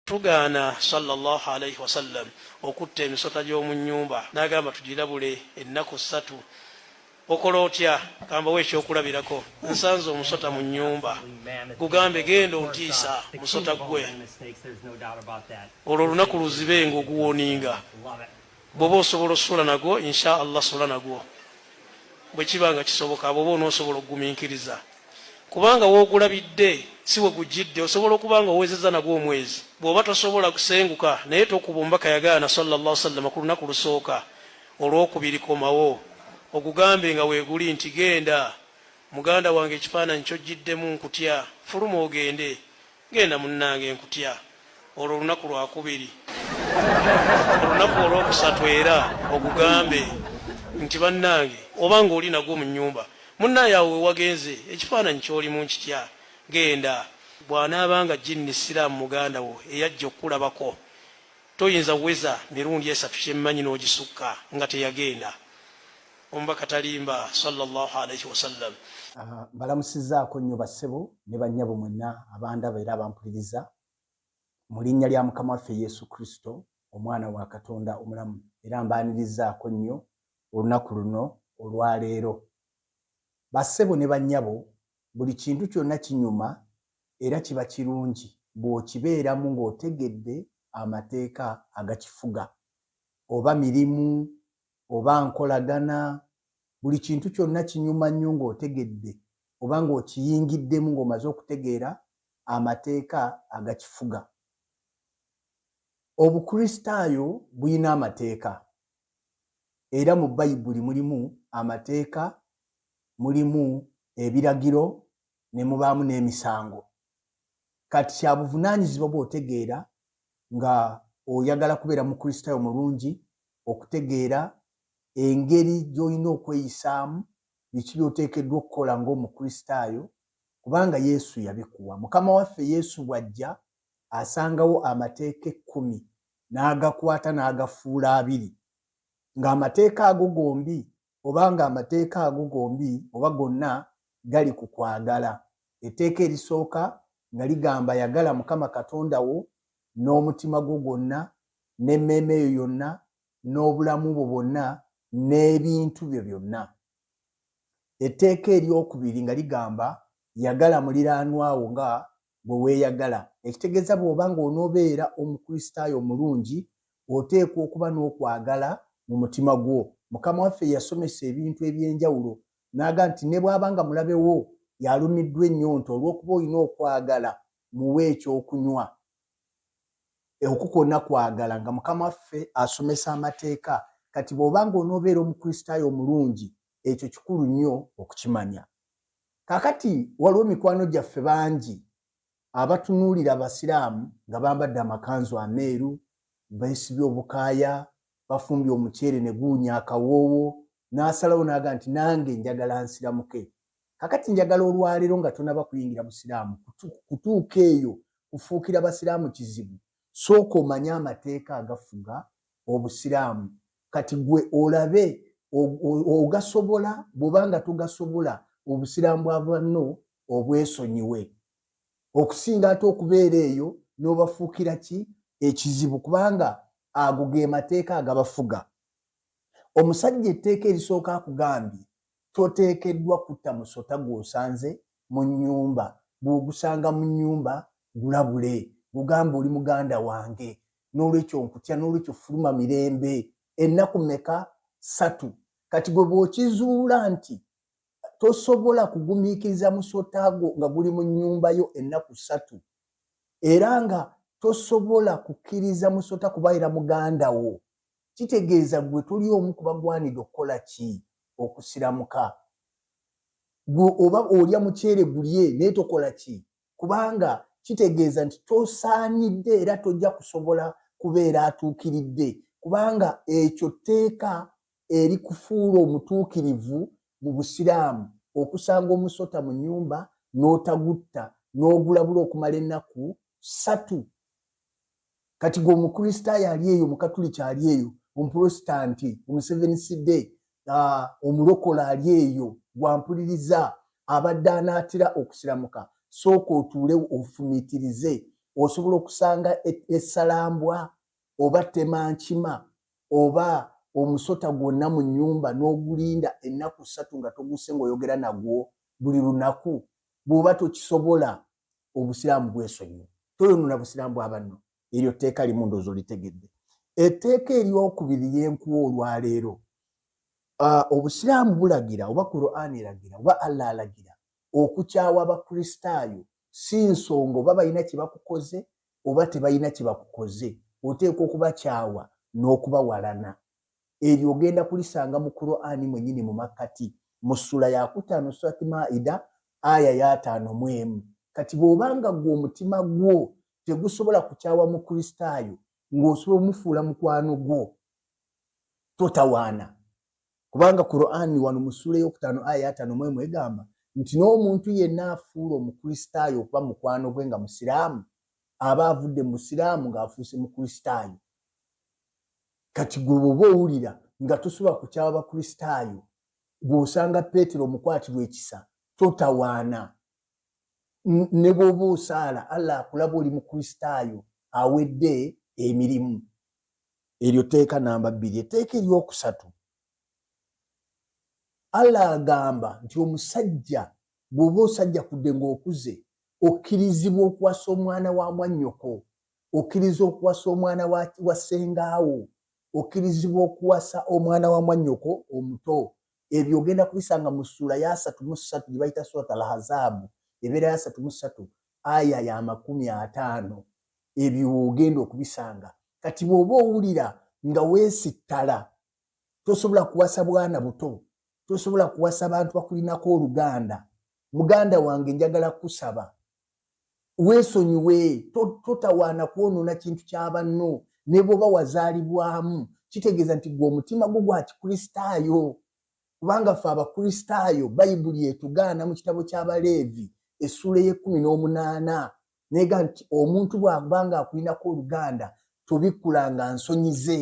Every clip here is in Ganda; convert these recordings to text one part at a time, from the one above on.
Tugaana sallallahu alaihi wasallam okutta emisota gy'omu nnyumba n'agamba tugirabule ennaku ssatu. Okola otya? Kambawo ekyokulabirako. Nsanze omusota mu nnyumba. Gugambe genda ontiisa musota gwe. Olwo olunaku luzibe ng'oguwoninga. bwoba osobola osula nagwo insha allah sula nagwo bwekiba nga kisoboka bwoba onosobola okuguminkiriza kubanga wogulabidde si wegujjidde osobola okuba nga owezeza nagwo omwezi bwoba tosobola kusenguka naye tokuba ombaka yagaana salllah sallama ku lunaku lusooka olwokubiri komawo ogugambe nga weguli nti genda muganda wange ekifaananyi kyojjiddemu nkutya fuluma ogende Genda munnange nkutya olwo olunaku lwakubiri olunaku olwokusatu era ogugambe nti bannange oba nga oli nagwo mu nyumba munnaye awo wewagenze ekifaananyi kyoli mu nkitya genda bw'anaaba nga jinni siraamu muganda wo eyajja okukulabako toyinza weza mirundi esatu kyemmanyi n'ogisukka nga teyagenda Omubaka talimba sallallahu alaihi wasallam. Ah, mbalamusizaako nnyo bassebo ne bannyabo mwenna abandaba era abampuliriza mu linnya lya mukama waffe yesu kristo omwana wa katonda omulamu era mbaanirizaako nnyo olunaku luno olwaleero bassebo ne bannyabo buli kintu kyonna kinyuma era kiba kirungi bw'okibeeramu ng'otegedde amateeka agakifuga oba mirimu oba nkolagana buli kintu kyonna kinyuma nnyo ng'otegedde oba ng'okiyingiddemu ng'omaze okutegeera amateeka agakifuga obukristaayo bulina amateeka era mu bayibuli mulimu amateeka mulimu ebiragiro ne mubaamu n'emisango kati kya buvunaanyizibwa bw'otegeera nga oyagala kubeera mukristaayo mulungi okutegeera engeri gy'olina okweyisaamu, biki by'oteekeddwa okukola ng'Omukristaayo, kubanga Yesu yabikuwa. Mukama waffe Yesu bw'ajja, asangawo Amateeka Ekkumi, n'agakwata n'agafuula abiri. Ng'Amateeka ago gombi oba ng'amateeka ago gombi oba gonna gali ku kwagala. Etteeka erisooka nga ligamba, Yagala Mukama Katonda wo n'omutima gwo gwonna, n'emmeeme yo yonna, n'obulamu bwo bwonna, n'ebintu byo byonna. Etteeka ery'okubiri nga ligamba, Yagala muliraanwa wo nga gwe weeyagala. Ekitegeeza bw'oba ng'onoobeera Omukristaayo omulungi, oteekwa okuba n'okwagala mu mutima gwo. Mukama waffe yasomesa ebintu eby'enjawulo n'aga nti ne bw'aba nga mulabe wo y'alumiddwa ennyonta olw'okuba olina okwagala, muwe eky'okunywa. Okwo kwonna kwagala. Nga Mukama waffe asomesa amateeka, kati bw'oba ng'onoobeera Omukristaayo omulungi, ekyo kikulu nnyo okukimanya kakati waliwo mikwano gyaffe bangi abatunuulira abasiraamu nga bambadde amakanzu ameeru beesibye obukaaya bafumbye omuceere ne guwunya akawoowo n'asalawo naaga nti nange njagala nsiramuke kakati njagala olwaleero nga tonaba kuyingira busiraamu kutuuka eyo kufuukira basiraamu kizibu sooka omanye amateeka agafuga obusiraamu kati gwe olabe ogasobola bwoba nga togasobola obusiraamu bwa banno obwesonyiwe okusinga ate okubeera eyo n'obafuukira ki ekizibu kubanga ago ge mateeka agabafuga omusajja etteeka erisooka akugambye Toteekeddwa kutta musota gw'osanze mu nnyumba. Bw'ogusanga mu nnyumba, gulabule. Gugambe, Oli muganda wange. N'olwekyo nkutya. N'olwekyo fuluma mirembe. Ennaku mmeka? Ssatu. Kati ggwe bw'okizuula nti tosobola kugumiikiriza musota gwo nga guli mu nnyumba yo ennaku ssatu, era nga tosobola kukkiriza musota kubaira muganda wo, kitegeeza gwe toli omu kubagwanidde okukola ki okusiramuka gwe oba olya muceere gulye naye tokola ki kubanga kitegeeza nti tosaanidde era tojja kusobola kubeera atuukiridde kubanga ekyo tteeka erikufuula omutuukirivu mu busiraamu okusanga omusota mu nyumba n'otagutta n'ogulabula okumala ennaku satu kati gwe omukristaayo ali eyo omukatuliki ali eyo omuprotestanti omuseveni side uh, omulokola ali eyo gwampuliriza abadde anaatira okusiramuka sooka otuule ofumiitirize osobola okusanga e-, esalambwa oba tema nkima oba omusota gwonna mu nyumba n'ogulinda ennaku ssatu nga toguse ngaoyogera nagwo buli lunaku bw'oba tokisobola obusiraamu bwesonyiwa toyonona busiraamu bwa banno eryo tteeka limu ndoozi olitegedde etteeka eryokubiri lyenkuwa olwaleero ah, obusiraamu bulagira oba kuraani eragira oba allah alagira okukyawa abakristaayo si nsonga oba balina kyebakukoze oba tebalina kyebakukoze oteeka okubakyawa n'okubawalana eryo ogenda kulisanga mu qurani mwenyini mu makkati mu ssula yakutaano surat maida aya yataano mu emu kati bw'obanga gwe omutima gwo tegusobola kukyawa mu kristaayo ng'osobola omufuula mukwano gwo totawaana kubanga qurani wano mu ssula eyokutaano aya yataano mu emu egamba nti n'omuntu yenna afuula omukristaayo okuba mukwano gwe nga musiraamu aba avudde mu busiraamu ng'afuuse mu kristaayo kati gwe bwoba owulira nga tosobola ku kyabakristaayo bw'osanga peetero omukwatirwa ekisa totawaana ne bw'oba osaala allah akulaba oli mukristaayo awedde emirimu eryo teeka namba bbiri etteeka eryokusatu allah agamba nti omusajja bw'oba osajja kudde ng'okuze okkirizibwa okuwasa omwana wa mwannyoko okkiriza okuwasa omwana wa ssengaawo okkirizibwa okuwasa omwana wa mwannyoko omuto ebyo ogenda kubisanga mu ssuula ya asatu mu ssatu gye bayita surat al hazaabu ebeera ya asatu mu ssatu aya ya makumi ataano ebyo ogenda okubisanga kati bw'oba owulira nga weesittala tosobola kuwasa bwana buto tosobola kuwasa bantu bakulinako oluganda muganda wange njagala kusaba weesonyiwe totawaana kwonoona kintu kya banno ne bwoba wazaalibwamu kitegeeza nti gwe omutima gwo gwa kikristaayo kubanga ffe abakristaayo bayibuli etugaana mu kitabo ky'abaleevi essuula ey'ekkumi n'omunaana neega nti omuntu bw'abanga akulinako oluganda tobikkulanga nsonyi ze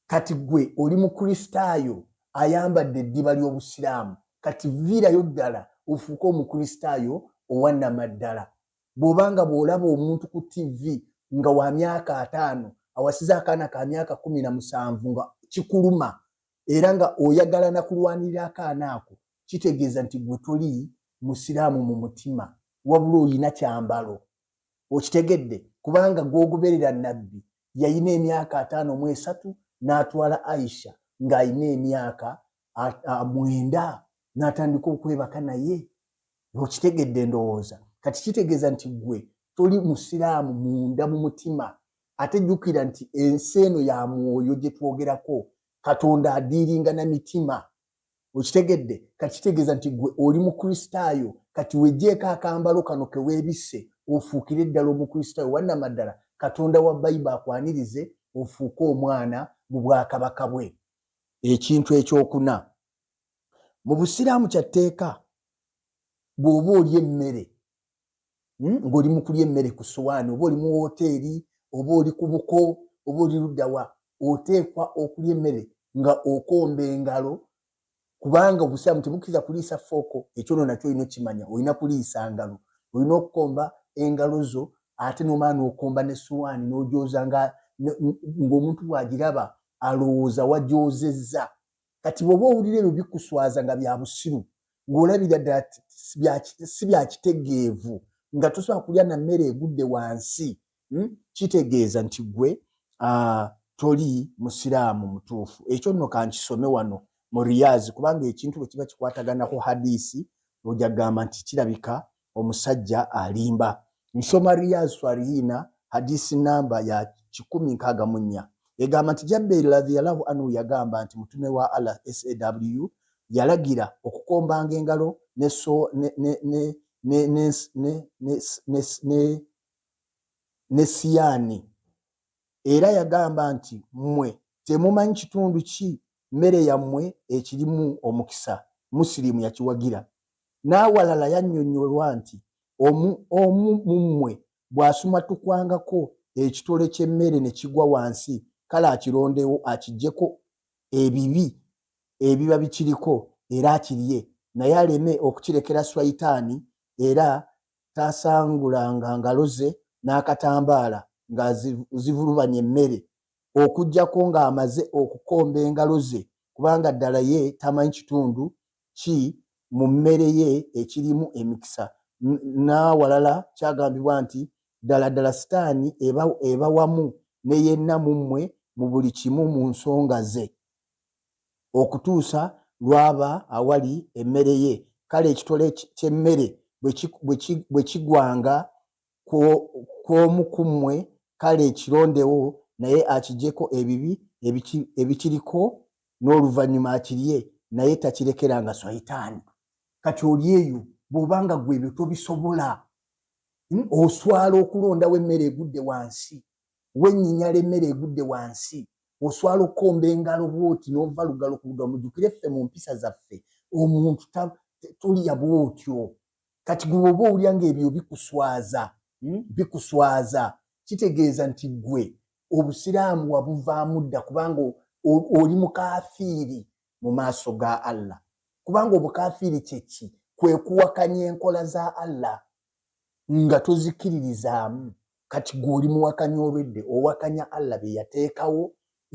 kati gwe oli mukristaayo ayambadde eddiba ly'obusiraamu kati viirayo ddala ofuuke omukristaayo owanamaddala bw'oba nga bw'olaba omuntu ku tivi nga wa myaka ataano awasiza akaana ka myaka kumi na musanvu nga kikuluma era nga oyagala na kulwanirira akaana ako kitegeeza nti gwe toli musiraamu mu mutima wabula olina kyambalo okitegedde kubanga gwogoberera nabbi yalina emyaka ataano mu esatu n'atwala aisha ng'alina emyaka mwenda n'atandika okwebaka naye okitegedde endowooza kati kitegeeza nti gwe toli musiraamu munda mu mutima ate jjukira nti ensi eno ya mwoyo gye twogerako katonda adiiringa na mitima okitegedde kati kitegeeza nti gwe oli mukristaayo kati wejjeeko akambalo kano keweebisse ofuukire eddala omukristaayo wannamaddala katonda wa bayiba akwanirize ofuuke omwana mu bwakabaka bwe ekintu ekyokuna mu busiraamu kya tteeka bw'oba oli emmere hmm? ng'oli mu kulya emmere ku suwaani oba oli mu wooteeri oba oli ku buko oba oli luddawa oteekwa okulya emmere nga okomba engalo kubanga obusiraamu tebukkiriza kuliisa fooko ekyo no nakyo olina okukimanya olina kuliisa ngalo olina okukomba engalo zo ate nomala nokomba ne suwaani nogyoza ngaomuntu bwagiraba alowooza wagyozezza kati bwoba owulira ebyo bikuswaza nga bya busiru ng'olabira ddala si bya kitegeevu nga tosobola kulya na mmere egudde wansi hmm? kitegeeza nti gwe ah, toli musiraamu mutuufu ekyo nno kankisome wano mu riyazi kubanga ekintu bwe kiba kikwataganako hadisi oja kugamba nti kirabika omusajja alimba nsoma riyaz swalihina hadisi namba ya kikumi nkaaga mu nnya egamba nti jabbeeri radhiallahu anhu yagamba nti mutume wa allah saw yalagira okukombanga engalo ne siyaani Era yagamba nti, Mmwe temumanyi kitundu ki mmere yammwe ekirimu omukisa. Musilimu yakiwagira. N'awalala yannyonnyolwa nti, Omu, omu mu mmwe bw'asumatukwangako ekitole ky'emmere ne kigwa wansi, kale akirondewo akiggyeko ebibi ebiba bikiriko era akirye, naye aleme okukirekera Swayitaani era taasangulanga ngalo ze n'akatambaala ng'azivulubanya emmere okuggyako ng'amaze okukomba engalo ze kubanga ddala ye tamanyi kitundu ki mu mmere ye ekirimu emikisa n'awalala kyagambibwa nti ddala ddala sitaani eba wamu ne yenna mu mmwe mu buli kimu mu nsonga ze okutuusa lw'aba awali emmere ye, kale ekitole ky'emmere bwe kigwanga ku omu ku mmwe, kale kirondewo naye akiggyeko ebibi ebikiriko n'oluvannyuma akirye, naye takirekeranga swayitaani. Kati oli eyo bw'oba nga ggwe ebyo tobisobola, hmm, oswala okulondawo emmere egudde wansi. wenyinyala emmere egudde wansi oswala okukomba engalo bwoti nova lugalo kuluga mujukire ffe mu mpisa zaffe omuntu tolya bwotyo kati gwe oba owulya ngaebyo bikuswaza hmm? bikuswaza kitegeeza nti gwe obusiraamu wabuvaamu dda kubanga oli mukafiiri mu maaso ga allah kubanga obukafiiri kyeki kwekuwakanya enkola za allah nga tozikiririzaamu kati gwe oli muwakanya olwedde owakanya allah byeyateekawo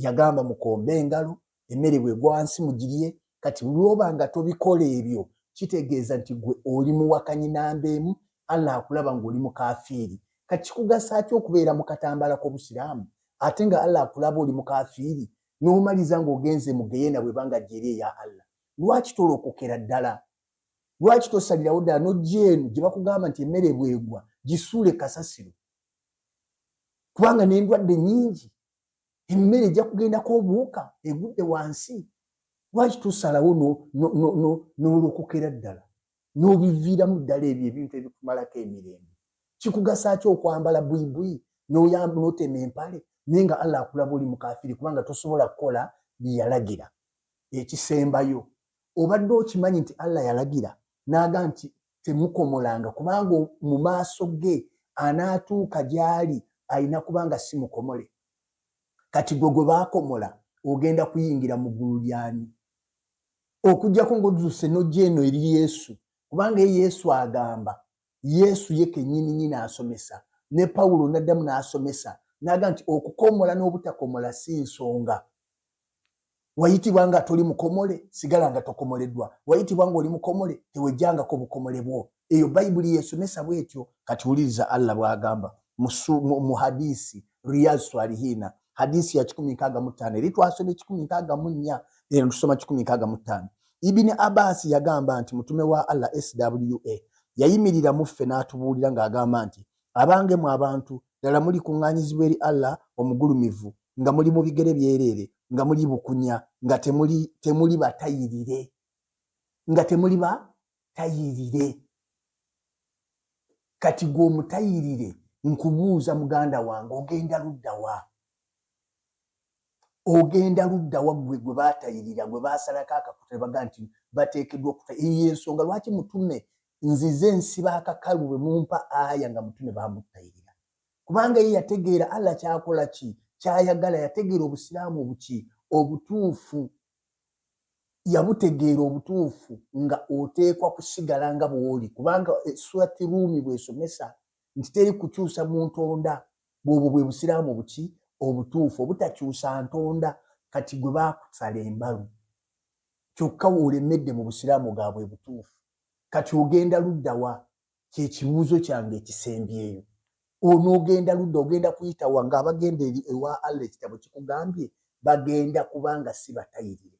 yagamba mukombe engalo emmere bwegwansi mugirye kati lwoba nga tobikola ebyo kitegeeza nti gwe oli muwakanyi namba emu allah akulaba ngaoli mukafiiri kati kikugasa ki okubeera mu katambala k'obusiraamu ate nga allah akulaba oli mukafiiri n'omaliza ng'ogenze mugeyena bwebanga gyeri eya allah lwaki tolokokera ddala lwaki tosalirawo ddala nojja eno gye bakugamba nti emmere bwegwa gisuule kasasiro kubanga n'endwadde nyingi emmere ejja kugendako obuwuka egudde wansi lwaki tusalawo n'olokokera ddala n'obiviiramu ddala ebyo ebintu ebikumalako emirembe kikugasa ki okwambala bwibwi n'oyamba n'otema empale naye nga allah akulaba oli mukafiri kubanga tosobola kukola byeyalagira ekisembayo obadde okimanyi nti allah yalagira naaga nti temukomolanga kubanga mu maaso ge anaatuuka gyali alina kubanga si mukomole kati gwe gwe baakomola ogenda kuyingira mu ggulu lyani okujjako ngaoduse nojja eno eri yesu kubanga ye yesu agamba yesu ye kenyini nyini asomesa ne pawulo naddamu n'asomesa naga nti okukomola n'obutakomola si nsonga wayitibwa nga toli mukomole sigala nga tokomoleddwa wayitibwa nga oli mukomole tewejjangako bukomole bwo eyo bayibuli yesomesa bwetyo kati wuliriza allah bwagamba mu hadisi riyaz swalihina hadisi ya kikumi nkaaga mu ttaano eri twasoma ekikumi nkaaga mu nnya eno tusoma kikumi nkaaga mu ttaano Ibini Abaasi yagamba nti mutume wa Allah SWA yayimirira mu ffe n'atubuulira ng'agamba nti abange mu abantu ddala muli kuŋŋaanyizibwa eri Allah omugulumivu nga muli mu bigere byereere nga muli bukunya nga temuli temuli batayirire nga temuli batayirire kati gwe omutayirire nkubuuza muganda wange ogenda luddawa ogenda ludda waggwe gwe baatayirira gwe baasalako akakuta ne baga nti bateekeddwa okuta eyo y'ensonga lwaki mutume nzize nsiba akakalu bwe mumpa aya nga mutume baamuttayirira kubanga ye yategeera allah kyakola ki kyayagala yategeera obusiraamu obuki obutuufu yabutegeera obutuufu nga oteekwa kusigala nga bw'oli kubanga eh, surati ruumi bw'esomesa nti teri kukyusa mu ntonda bwobwo bwe busiraamu buki obutuufu obutakyusa ntonda kati gwe baakusala embalu kyokka wolemedde mu busiraamu gaabwe butuufu kati ogenda luddawa kyekibuuzo kyange ekisembyeyo onoogenda ludda ogenda kuyitawa ngaabagenda eri ewa allah ekitabo kikugambye bagenda kubanga si batayirire